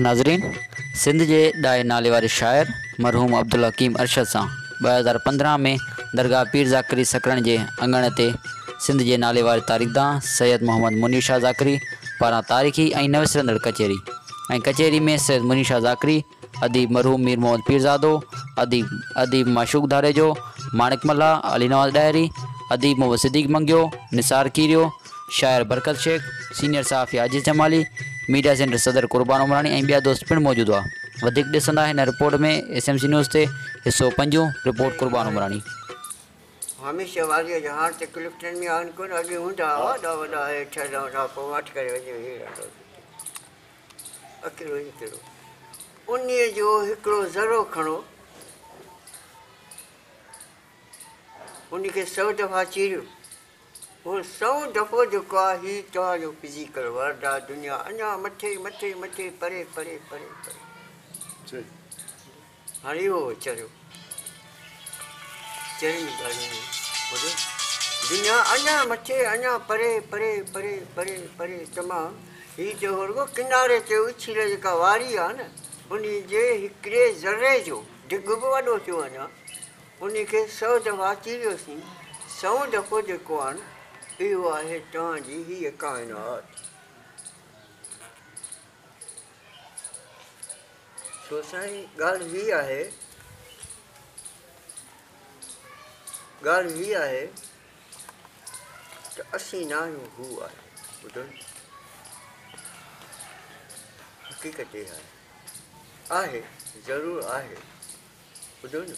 ناظرين سنڌ جي ڏاهي نالي واري شاعر مرحوم عبدالحڪيم ارشد سان ٻه هزار پندرهن ۾ درگاهه پير ذاڪري سڪرڻ جي اڱڻ تي سنڌ جي نالي واري تاريخدان سيد محمد منير شاهه ذاڪري پاران تاريخي ۽ نه وسرندڙ ڪچهري ۽ ڪچهري ۾ سيد منير شاهه ذاڪري اديب مرحوم مير محمد پيرزادو، اديب اديب معشوق ڌاريجو، ماڻڪ ملاح، علي نواز ڏاهري، اديب محمد صديق منگيو، نثار کيريو، شاعر برڪت شيخ، سينيئر صحافي عاجز جمالي، ميڊيا سينٽر صدر قربان عمراڻي ۽ ٻيا دوست پڻ موجود هئا. وڌيڪ ڏسندا هن report ۾ S M C news تي، حصو پنجون، رپورٽ قربان عمراڻي. هميشه واديء جا هاڻ ته ڪلفٽن ۾ آهن ڪونه اڳي هوندا هئا وڏا وڏا هيٺ هلندا هئا پوء واٽ ڪري وڃي ويهي رهندو هو جتي. اڪيلو اڪيلو انهيء جو هڪڙو ذرو کڻو، ان کي سئو دفعا چيريو، هو سئون دفعو جيڪو آهي هي توهان جو فزيڪل ورلڊ آهي، دنيا اڃا مٿي مٿي مٿي پري پري پري پري. هاڻي اهو ويچاريو چئن ئي ڳالهين ۾ ٻڌو، دنيا اڃا مٿي، اڃا پري، پري، پري، پري، پري تمام، هي چئو رڳو ڪناري تي اڇيل جيڪا واري آهي نه، انهي جي هڪڙي ذري جو ڊگهه به وڏو ٿيو اڃا، انهي کي سؤ دفعا چيريوسين، سئون دفعو جيڪو آهن، اهو آهي توهان جي هيء ڪائنات. سو سائين ڳالهه هي آهي ڳالهه هي آهي ته اسين نه آهيون هو آهي ٻڌو نه حقيقت اها آهي آهي ضرور آهي ٻڌو نه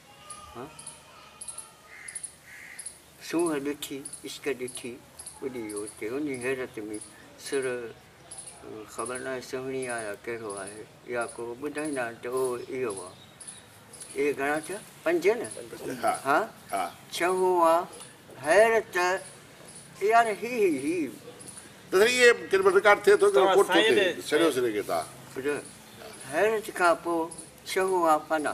سونهن ڏٺي عشق ڏٺي ٻڏي ويو اتي انهي حيرت ۾ سر خبر ناهي سهڻي آ يا ڪهڙو آهي يا ڪو ٻڌائيندا آهن ته او اهو آ اهي گهڻا ٿيا پنج نه ها ڇهون آ حيرت يار هي هي حيرت کان پوء ڇهون آ فنا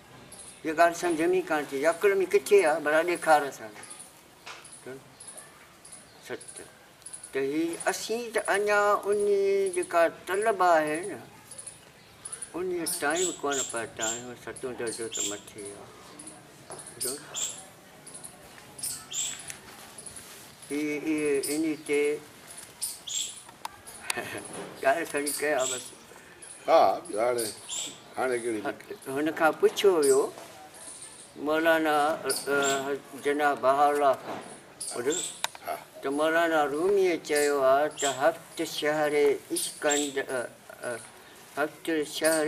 اها ڳالهه سمجهه ۾ ئي ڪانه ٿي اچي، عقل ۾ ڪٿي آهي ڀلا ڏيکار اسان کي سچ ته هي اسين ته اڃا انهي جيڪا طلب آهي نه انهي تائين ڪونه پهتا آهيون ستون درجو ته مٿي آهي هي انهي تي ڳالهه کڻي ڪيا بس هن کان پڇيو ويو مولانا جناب بهاء الله کان ته مولانا روميء چيو آهي ته هفت شهر عشق هفت شهر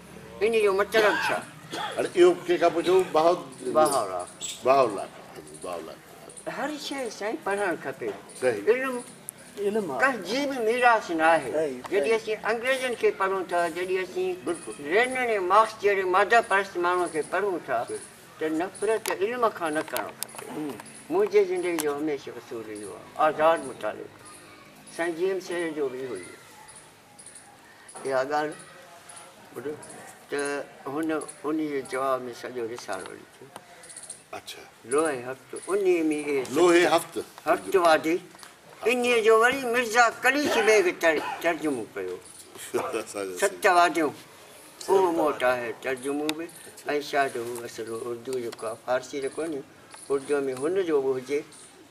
ان جو مطلب ڇا؟ هاڻي اهو ڪنهن کان پڇو؟ بهاءالله کان. هر شيء سائين پڙهڻ کپي. علم ڪنهن جي به ميراث نه آهي. جڏهن اسين انگريزن کي پڙهون ٿا، جڏهن اسين لينن ۽ مارڪس جهڙي ماده پرست ماڻهن کي پڙهون ٿا ته نفرت علم کان نه ڪرڻ کپي. منهنجي زندگي جو هميشه اصول اهو آهي، آزاد مطالعو ڪرڻ. سائين جي ايم سيد جو به اهو ئي هو. اها ڳالهه ٻڌو ته هن انهيء جي جواب ۾ سڄو رسالو لکيو. اڇا. لوهي هفت انهيء ۾ اهي سڀ. لوهي هفت. هفت وادي انهيء جو وري مرزا قليچ بيگ ترجمو ڪيو. ست واديون اهو مون وٽ آهي ترجمو به ۽ شايد هو اصل اردوء جو ڪا فارسي ته ڪونهي اردوء ۾ هن جو به هجي.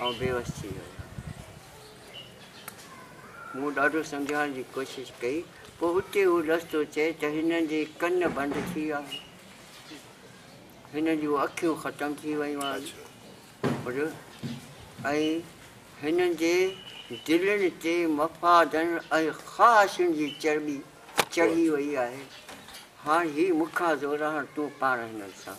آئون بيوس ٿي ويو. مون ڏاڍو سمجهائڻ جي ڪوشش ڪئي. پوء اتي هو لفظ ٿو چئي ته هنن جي ڪن بند ٿي ويا آهن. هنن جون اکيون ختم ٿي ويون آهن. ۽ هنن جي دلين تي مفادن ۽ خواهشن جي چرٻي چڙهي وئي آهي. هاڻ هي مون کان زوراڻ تون پاڻ هنن سان.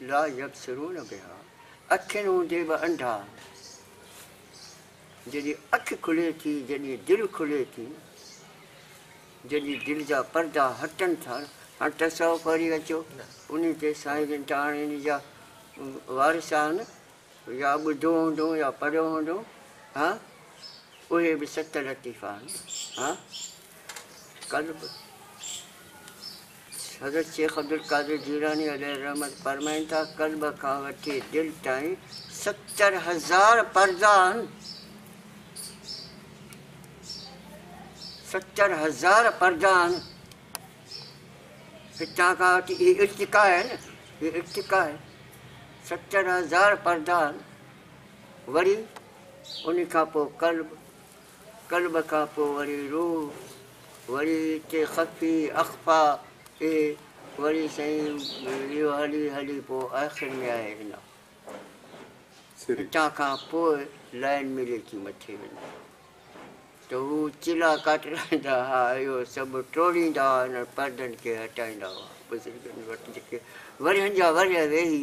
لا يبصرون بها، اکين هوندي به انڌا آهن. جڏهن اک کلي ٿي، جڏهن دل کلي ٿي، جڏهن دل جا پردا هٽن ٿا، هاڻ تصوف وري اچو انهي تي سائين جن ته هاڻي انهي جا وارث آهن يا ٻڌو هوندو يا پڙهيو هوندو ها اهي به ست لطيفا آهن ها قلب حضرت شيخ عبدالقادر جيلاني عليه الرحمة فرمائن ٿا، قلب کان وٺي دل تائين ستر هزار پردا آهن، ستر هزار پردا آهن، هتان کان وٺي هي ارتقا آهي نه، هي ارتقا آهي، ستر هزار پردا آهن، وري ان کان پوء قلب قلب کان پوء وري روح، وري اتي خفي، اخفا، اي، وري سائين اهو هلي هلي پوء آخر ۾ آهي هنا. هتان کان پوء لائين ملي ٿي مٿي وڃي ته هو چلا ڪاٽرائيندا ها، اهو سڀ ٽوڙيندا ها، انهن پردن کي هٽائيندا هئا، بزرگن وٽ جيڪي ورهين جا ورهيه ويهي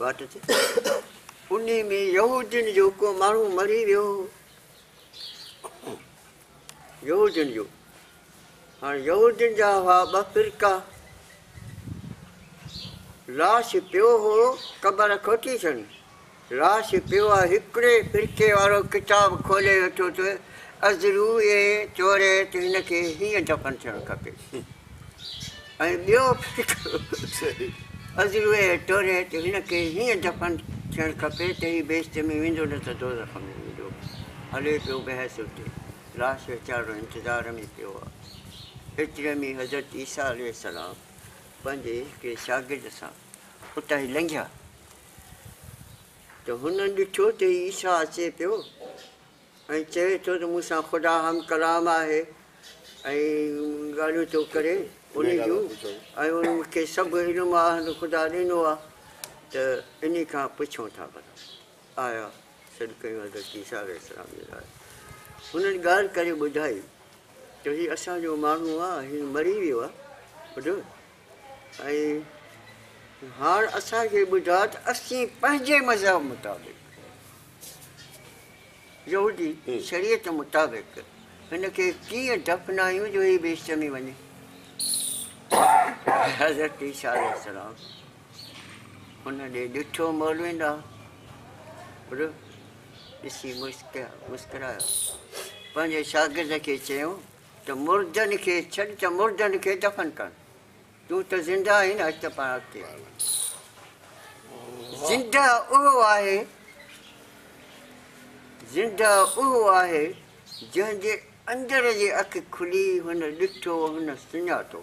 واٽ تي انهي ۾ يهودين جو ڪو ماڻهو مري ويو هو يهودين جو هاڻي يهودين جا هئا ٻه فرقا لاش پيو هو قبر کوٽي ٿيڻ راس پيو آ هڪڙي فرقي وارو ڪتاب کولي ويٺو ته ازرو اي چوري ته هن کي هيئن دفن ٿيڻ کپي ۽ ٻيو فرقو ازرو اي چوري ته هن کي هيئن دفن ٿيڻ کپي ته هي بهشت ۾ ويندو نه ته دوزخ ۾ ويندو هلي پيو بحث اتي راس ويچارو انتظار ۾ پيو آ ايتري ۾ حضرت عيسيٰ عليه السلام پنهنجي هڪڙي شاگرد سان اتان هي لنگهيا ته هن ڏٺو ته هي عيسيٰ اچي پيو ۽ چوي ٿو ته مون سان خدا هم ڪلام آهي ۽ ڳالهيون ٿو ڪري ان جون ۽ ان مون کي سڀ علم آهن خدا ڏنو آهي ته انهي کان پڇون ٿا ڀلا آيا سڏ ڪيون حضرت عيسيٰ عليه السلام جي لاء هنن ڳالهه ڪري ٻڌائي ته هي اسان جو ماڻهو آهي هي مري ويو آهي ٻڌو ۽ هاڻ اسان کي ٻڌاء ته اسين پنهنجي مذهب مطابق، يهودي شريعت مطابق، هن کي ڪيئن دفنايون جو هي بي شرمي وڃي. حضرت عيسيٰ عليه السلام هن ڏي ڏٺو مولوين ڏانهن رخ ڏسي مسڪرايو پنهنجي شاگرد کي چيو ته مردن کي ڇڏ ته مردن کي دفن ڪن تون ته زنده آهين اچ ته پاڻ اڳتي آء زنده اهو آهي زنده اهو آهي جنهن جي اندر جي اک کلي هن ڏٺو هن سڃاتو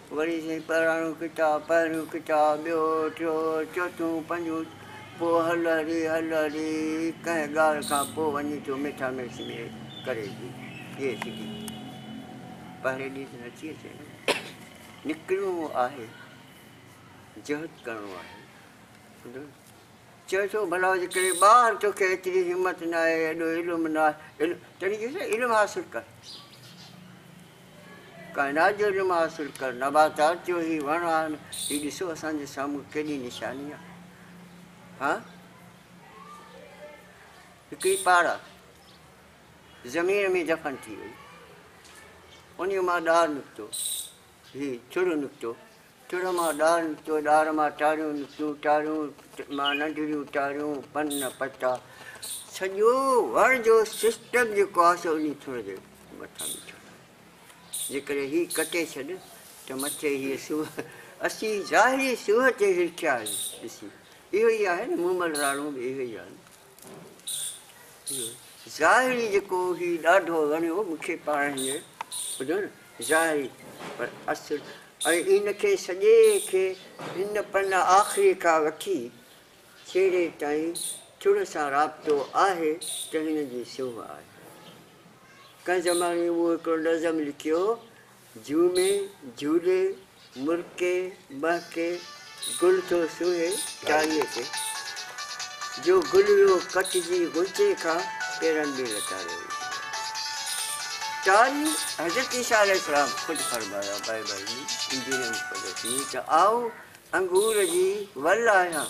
وري چيائين، پراڻو ڪتاب، پهريون ڪتاب، ٻيو، ٽيو، چوٿون، پنجون، پوء هل هري، هل هري، ڪنهن ڳالهه کان پوء وڃي ٿو مٺا مرچ ۾ ڪري ٿي پيئي سگهي. پهرين ڏينهن ته نٿي اچي نه. نڪرڻو آهي، جهد ڪرڻو آهي. ٻڌو؟ چوي ٿو، ڀلا جي ڪري ٻاهر توکي ايتري همت ناهي، ايڏو علم ناهي، تڏهن چويس نه علم حاصل ڪر. ڪائنات جو علم حاصل ڪر، نباتات جو هي وڻ آهن، هي ڏسو اسان جي سامهون ڪيڏي نشاني آهي. ها هڪڙي پاڙا زمين ۾ دفن ٿي وئي، انهي مان ڏار نڪتو، هي چڙ نڪتو، ٽڙ مان ڏار نڪتو، ڏار مان ٽاريون نڪتيون، ٽاريون مان ننڍڙيون ٽاريون، پن پتا، سڄو وڻ جو سسٽم جيڪو آهي سو انهي ٿڻ جي مٿان بيٺل آهي. جيڪڏهن هي ڪٽي ڇڏ ته مٿي هيء سوهه اسين ظاهري سوهه تي هرکيا آهيون. ڏسي اهو ئي آهي نه مومل راڻو به اهو ئي آهي نه. ظاهري جيڪو هي ڏاڍو وڻيو مون کي پاڻ هينئر ٻڌو نه ظاهري پر اصل ۽ ان کي سڄي کي هن پن آخري کان وٺي ڇيڙي تائين چڙ سان رابطو آهي ته هن جي سونهن آهي ڪنهن زماني مون هڪڙو نظم لکيو جهومي جهولي مرڪي مهڪي گل ٿو سونهي ٽاري تي جو گل ويو ڪٽجي غنچي کان پيرن ۾ لتاڙيو ويندو آهي ٽاري حضرت عيسيٰ عليه السلام خود فرمايو آهي بائبل ۾ انجيل مقدس ۾ ته آئون انگور جي ول آهيان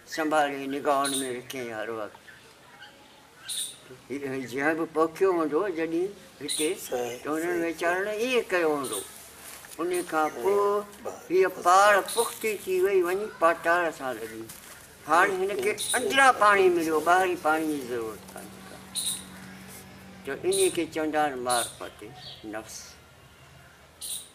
سنڀالي نگاهن ۾ رکيائين هر وقت. هي جنهن به پوکيو هوندو جڏهن هتي ته هنن ويچارن ائين ڪيو هوندو. انهي کان پوء هيء پاڙ پختي ٿي وئي وڃي پاٽار سان لڳي. هاڻي هن کي اندران پاڻي مليو ٻاهرين پاڻي جي ضرورت ڪانهي ڪا ته انهي کي چوندا آهن مارفتي نفس.